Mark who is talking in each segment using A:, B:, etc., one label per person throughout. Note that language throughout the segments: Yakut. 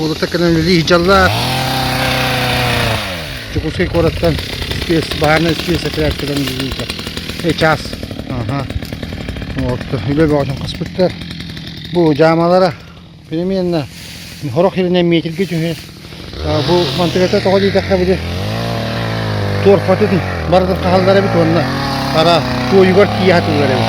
A: Уолаттар кэнэн үлэлии сылдьаллар. Дьокуускай куораттан испиэс, баһаарынай испиэс этэрээт кэлэн үлэлииллэр. Ый чаас. Аха. Уолаттар үлэ бөҕөтүн хаспыттар. Бу дьаамалара переменна сорох иринэн метрге түһэ. Бу мантыгата тоҕо диэтэххэ били туорпатын барытын хааллар эбит уонна ара туойугар тиийэ хатыллар эбит.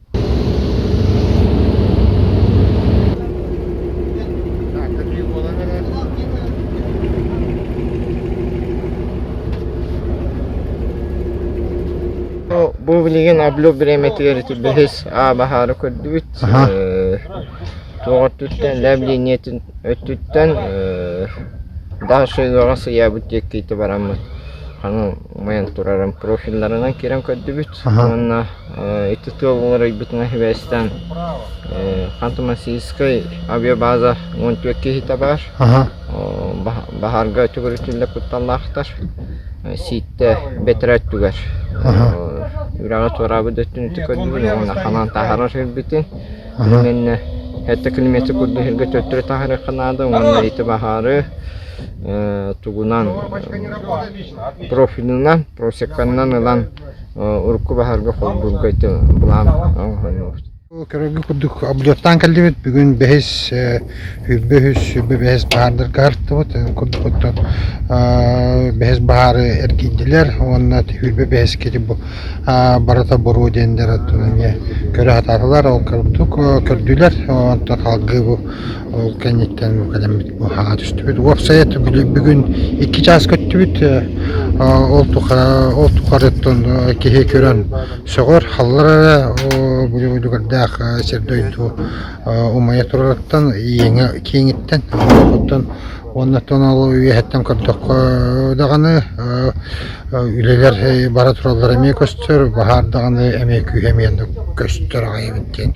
A: Бу билигин Аблю бириэмэтигэр ити бэһис аа баһаары көрдүбүт. Туох өттүттэн давлениетин өттүттэн дальше ыаҕа сыйаабыт диэкки ити бараммыт. Ханан майан турарым профилларынан кирэн көрдүбүт. уонна ити тыал уларыйбытына сибээстээн Ханты-Мансийскай авиабаза уон түөрт киһитэ баар. Баһаарга төгүрүтүллэр кутталлаахтар. Сииттэ бэтэрэ өттүгэр үрэҕи туораабыт өттүнүтү көрдүбүн уонна ханан таһарар ирбитин иннэнэ этэ километр курдук иһэргэ төттөрү таһарыахха наада уонна ити баһаары тугунан профилынан просеканнан ылан урукку баһарга холбуурга Көрөргө курдук облеттаан кэллибит. Бүгүн бэһис, сүүрбэ үһүс, сүүрбэ бэһис баһаардарга артыбыт. Курдук оттон бэһис баһаары эргийдилэр уонна сүүрбэ бэһис кири барыта боруо диэндэр көрө сатаатылар. Ол курдук көрдүлэр. Онтон халгы бу Ол кэнниттэн кэлэммит быһаа түстүбүт. Уопсайа бүгүн бүгүн икки чаас көттүбүт. Ол тухары ол тухарыттан киһи көрөн сөҕөр, халлар эрэ бүлүгүрдээх сир-дойду умайа турарыттан иэҥэ кииҥиттэн оттон уоннаттан ол үөһэттэн көрдөххө даҕаны үлэлэр бара тураллара эмиэ көстөр, баһаар даҕаны эмиэ күүһэ эмиэ көстөр аҕай эбит диэн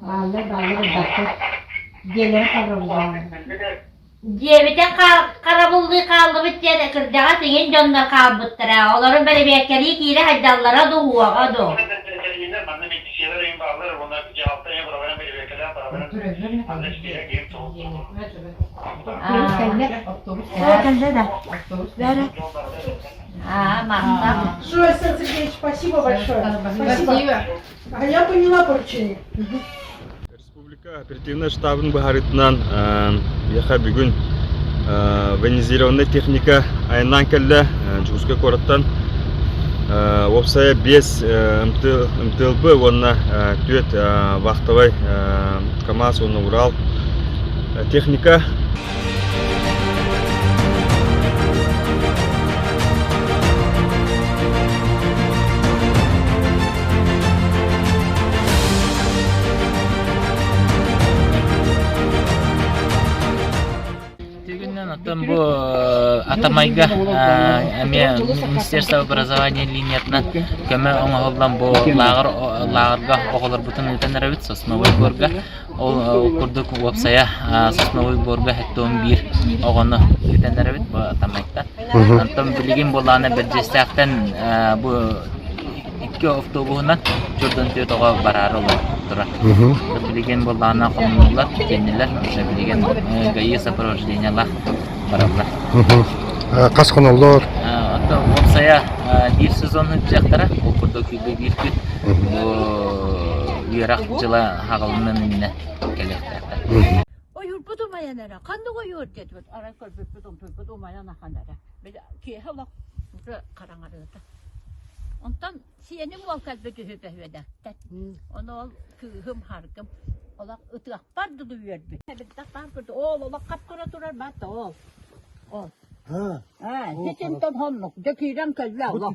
A: Бааллар-бааллар элбэхтэр диэлэрэ харабыллааллар диэбитин харабыллыы хааллыбыт диэн кырдьаҕас иҥин дьоннор хаалбыттара олору бэрэбиэркэлии киирэ сайдаллара да уҕуоҕа дуу аа махтап Сергеевич спасибо большое спасибо А я поняла поручение. Республика оперативнай штабын быһаарыытынан яха бүгүн венизированная техника айаннаан кэллэ Дьулускай куораттан уопсайа биэс МТЛБ уонна түөрт вахтовай КамАЗ уонна Урал техника Оттон бу атамайга эмиэ Министерство образования линиятынан көмө оҥоһуллан бу лааҕыр лааҕырга оҕолорбутун ыытан эрэбит сосновой горга Ол курдук уопсайа сосновой буорга сэттэ уон биир оҕону бүтэннэрэбит бу тамайта. Онтон билигин буолаана Бэрдьиэстээхтэн бу икки автобуһунан төрдөн төрт оҕо бараары олортура. Билигин буолаана хомнулар, тиэннилэр, онтон билигин ГАИ сопровождениялаах бараллар. Хас хоноллор? Онтон уопсайа биир сезоннук дьахтара ол курдук биир күн үөрэх дьыла аһаҕалынан иннэ кэлиэхтээхтэр. Ойурбут умайан эрэ. Ханнык ойуур дедбит? Арай көрбүппүт умпуппут умайан ахан эрэ. Били киэһэ олох хараҥарыыта. Онтон сиэним уол кэлбит үһү бөһүөнэ. Ону ол кыыһым, харгым олох ытыахпар дылы үөрбүт. Эбиттэх баар курдук. Ол олох хап-кыра турар баата ол. Ол. Ha. Ha, ситин тон honluk. Döküyden kölve Allah.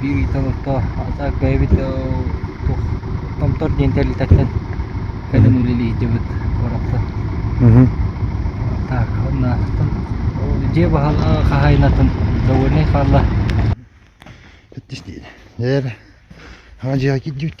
A: Биир Италото атаак бэйэбит туох Томтор диэн тэрилтэттэн кэлэн үлэлиһдибит куоракка. Атаакынатан дьиэ баһылыгы хаһаайынатын довольный хаалла. Эдэр дьиэҕэ киирдибит.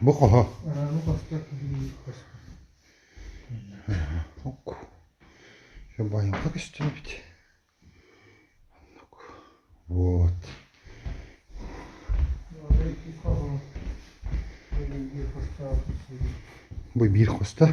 A: Бу хоһо. Байымга көстүбүт. Вот. Бу биир хоста.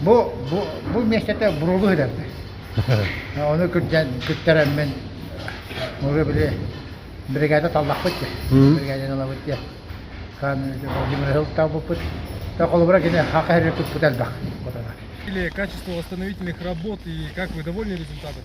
A: Бу, бу, бу миэстэтэ буруолу иһитэрдэ. Ону кырдьан кыттарэммин уже били биригээдэ таллахпыт дии. Биригээдэни ылабыт дии. Владимир ылтаабыппыт. Да холобура кини хака эрэ туппут элбэх. Качество восстановительных работ и как вы довольны результатами?